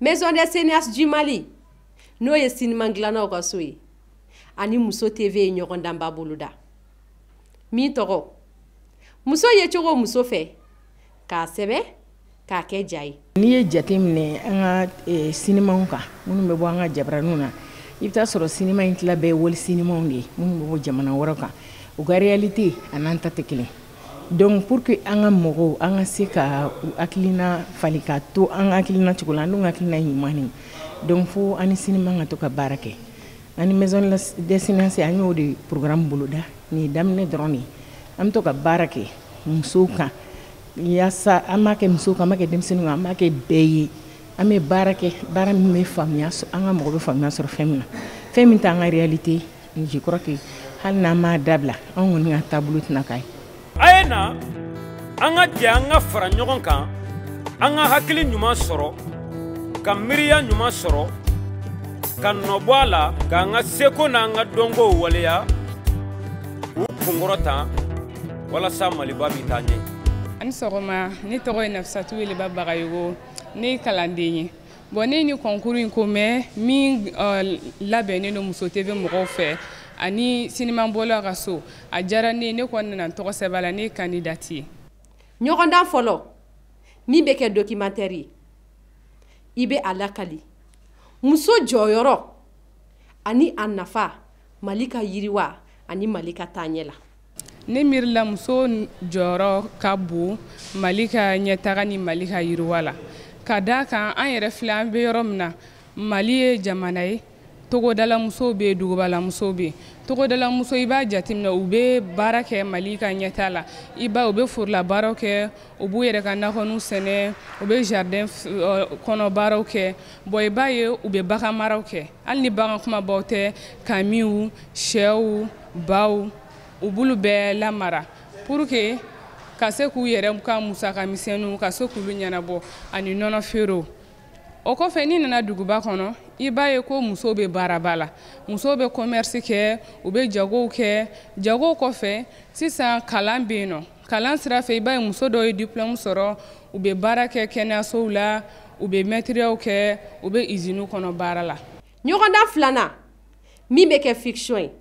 Maison des cinéastes du Mali n'o ye siniman dilannaw ka so ye ani muso TV ye ɲɔgɔndanba boloda min tɔgɔ muso yecogo muso fɛ k'a sɛbɛ k'a kɛ ja ye n'i ye jate minɛ an ka eh, sinimaw kan minnu bɛ bɔ an ka jabaraniw na i bɛ t'a sɔrɔ sinima in tila bɛɛ ye wali sinimaw de ye minnu bɛ bɔ jamana wɛrɛ kan u ka réalité a n'an ta tɛ kelen donc pour que an ka mɔgɔw an ka se ka u hakilina falen ka to an ka hakilina cogo la an dun ka hakilina ɲuman de don fo an ni sinima ka to ka baara kɛ Ani maison des cinéastes an y'o de programme boloda nin ye daminɛ dɔrɔn de ye an bɛ to ka baara kɛ musow kan yaasa an b'a kɛ musow kan an b'a kɛ denmisɛnninw kan an b'a kɛ bɛɛ ye an bɛ baara kɛ baara min bɛ faamuya an ka mɔgɔ bɛ faamuya sɔrɔ fɛn min na fɛn min t'an ka réalité ye je crois que hali n'an m'a dabila anw kɔni ka taabolo tɛna k'a ye a ye na an ka jɛ an ka fara ɲɔgɔn kan an ka hakili ɲuman sɔrɔ ka miiriya ɲuman sɔrɔ ka nɔbɔ a la k'an ka seko n'an ka dɔnkow waleya k'u kunkɔrɔta walasa maliba bɛ taa ɲɛ aw ni sɔgɔma ne tɔgɔ ye nafisatu weleba bagayogo ne ye kalanden ye bɔn ne ye nin kɔnkuru in ko mɛ min euh, labɛnnen don muso tv mɔgɔw fɛ ani sinimabɔlaw ka so a diyara ne ye ne kɔni nana tɔgɔ sɛbɛn la ne kandidati ye ɲɔgɔndan fɔlɔ min bɛ kɛ dokimatɛri ye i bɛ a lakali muso jɔyɔrɔ ani a nafa mali ka yiriwa ani mali ka taaɲɛ la ne miiri la muso jɔyɔrɔ ka bon mali ka ɲɛtaga ni mali ka yiriwa la ka da kan an yɛrɛ filɛ an bɛ yɔrɔ min na mali ye jamana ye togodalamusow bɛ yen dugubalamusow bɛ yen togodalamuso i b'a jateminɛ u bɛ baara kɛ mali ka ɲɛtaa la i ba u bɛ forolabaaraw kɛ u b'u yɛrɛ ka nakɔninw sɛnɛ u bɛ jardin kɔnɔ baaraw kɛ bɔn i b'a ye u bɛ bagan maraw kɛ hali ni bagan kunbabaw tɛ kamiw sɛw baw u b'olu bɛɛ lamara pour que ka se k'u yɛrɛ ka musaka misɛnninw ka se k'olu ɲɛnabɔ ani nɔnɔ feerew o kɔfɛ n'i nana duguba kɔnɔ i b'a ye ko musow bɛ baaraba la musow bɛ commerce kɛ u bɛ jagow kɛ jagow kɔfɛ sisan kalan bɛ yen nɔ kalan sira fɛ i b'a ye muso dɔw ye diplɔmu sɔrɔ u bɛ baara kɛ kɛnɛyasow la u bɛ mɛtiriyaw kɛ u bɛ iziniw kɔnɔ baara la ɲɔgɔndan filanan min bɛ kɛ fiction ye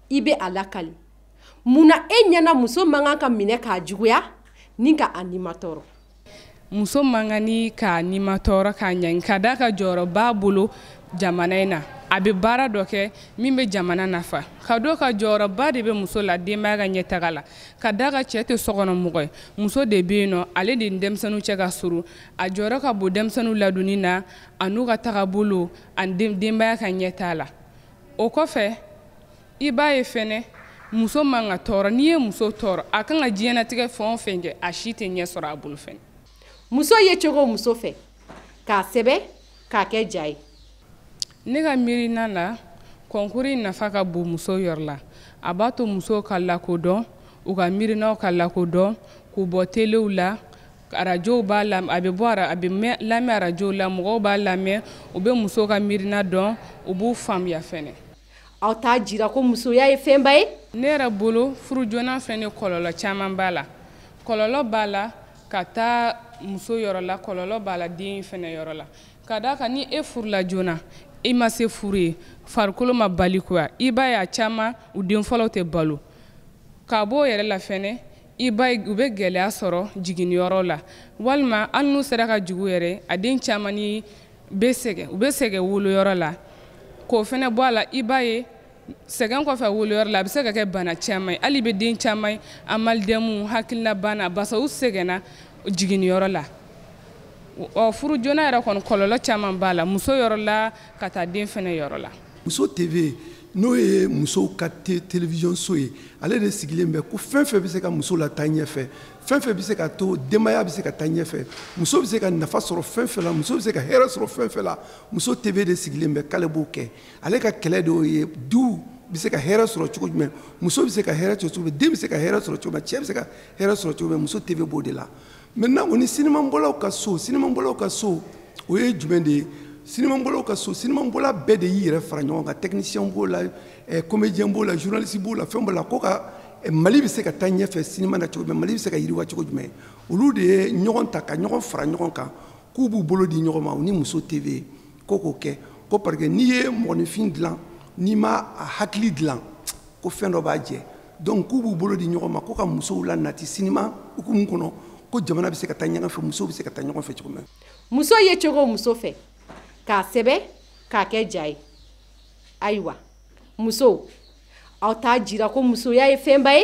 i bɛ a lakali mun na e ɲɛna muso man kan ka minɛ ka juguya ni ka a nimatɔɔrɔ muso man kan ni k'a nimatɔɔrɔ k'a ɲani ka d'a kan jɔyɔrɔ b'a bolo jamana in na a bɛ baara dɔ kɛ min bɛ jamana nafa ka d'a kan jɔyɔrɔba de bɛ muso la denbaya ka ɲɛtaga la ka d'a kan cɛ tɛ sokɔnɔmɔgɔ ye muso de bɛ yen nɔ ale de ni denmisɛnninw cɛ ka surun a jɔyɔrɔ ka bon denmisɛnninw ladonni na an'u ka tagabolo ani denbaya ka ɲɛtaa la o kɔfɛ i b'a ye fɛnɛ muso man ka tɔɔrɔ n'i ye muso tɔɔrɔ a k'a ka diɲɛnatigɛ fɛn o fɛn kɛ a si tɛ ɲɛ sɔrɔ a bolo fɛnɛ muso yecogo muso fɛ k'a sɛbɛn k'a kɛ ja ye ne ka miirina la kɔnkuru in nafa ka bon muso yɔrɔ la a b'a to musow ka lakodɔn u ka miirinaw ka lakodɔn k'u bɔ telew la arajow b'a la a bɛ bɔ a bɛ lamɛn arajow la mɔgɔw b'a lamɛn u bɛ musow ka miirina dɔn u b'u faamuya fɛnɛ aw t'a jira ko musoya ye fɛnba ye ne yɛrɛ bolo furu joona fɛnɛ kɔlɔlɔ caman b'a la kɔlɔlɔ b'a la ka taa muso yɔrɔ la kɔlɔlɔ b'a la den fɛnɛ yɔrɔ la ka d'a kan ni e furula joona i ma se furu ye farikolo ma balikuya i b'a ye a caman u den fɔlɔw tɛ balo ka b'o yɛrɛ la fɛnɛ i b'a ye u bɛ gɛlɛya sɔrɔ jiginniyɔrɔ la walima hali n'u sera ka jigin yɛrɛ a den caman ni bɛ sɛgɛn u bɛ sɛgɛn woloyɔrɔ la k'o fɛnɛ bɔ a la i b'a ye sɛgɛn kɔfɛ woloyɔrɔ la a bɛ se ka kɛ bana caman ye hali i bɛ den caman ye amalidɛmu hakilinabana basa u sɛgɛnna jiginniyɔrɔ la ɔ furu joona yɛrɛ kɔni kɔlɔlɔ caman b'a la muso yɔrɔ la ka taa den fɛnɛ yɔrɔ la muso tv n'o ye musow ka télévision so ye ale de sigilen bɛ ko fɛn fɛn bɛ se ka muso lataa ɲɛfɛ fɛn fɛn bɛ se ka to denbaya bɛ se ka taa ɲɛfɛ muso bɛ se ka nafa sɔrɔ fɛn fɛn la muso bɛ se ka hɛrɛ sɔrɔ fɛn fɛn la muso tv de sigilen bɛ k'ale b'o kɛ ale ka kɛlɛ de y'o ye duw bɛ se ka hɛrɛ sɔrɔ cogo jumɛn muso bɛ se ka hɛrɛ sɔrɔ cogo min den bɛ se ka hɛrɛ sɔrɔ cogo min cɛ bɛ se ka hɛrɛ sɔrɔ cogo min muso tv b'o de la maintenant o ni sinimabɔlaw ka so sinimabɔlaw ka so o ye jumɛn de ye sinimabɔlaw ka so sinimabɔla bɛɛ de y'i yɛrɛ fara ɲɔgɔn kan technicien b'o la eh, comédien b'o la journaliste b'o la fɛn b'o la ko ka eh, mali bɛ se ka taa ɲɛfɛ sinima na cogo jumɛn mali bɛ se ka yiriwa cogo jumɛn olu de ye ɲɔgɔn ta ka ɲɔgɔn fara ɲɔgɔn kan k'u b'u bolo di ɲɔgɔn ma u ni muso tv ko k'o kɛ ko parce que n'i ye mɔgɔninfin dilan n'i ma a hakili dilan ko fɛn dɔ b'a jɛ donc k'u b'u bolo di ɲɔgɔn ma ko ka musow la nati sinima hukumu kɔnɔ ko jamana bɛ se ka taa ɲɛfɛ musow bɛ se ka taa ɲɛfɛ cogo min na muso yecogo muso fɛ k'a sɛbɛn k'a kɛ ja ye ayiwa musow aw t'a jira ko musoya ye fɛnba ye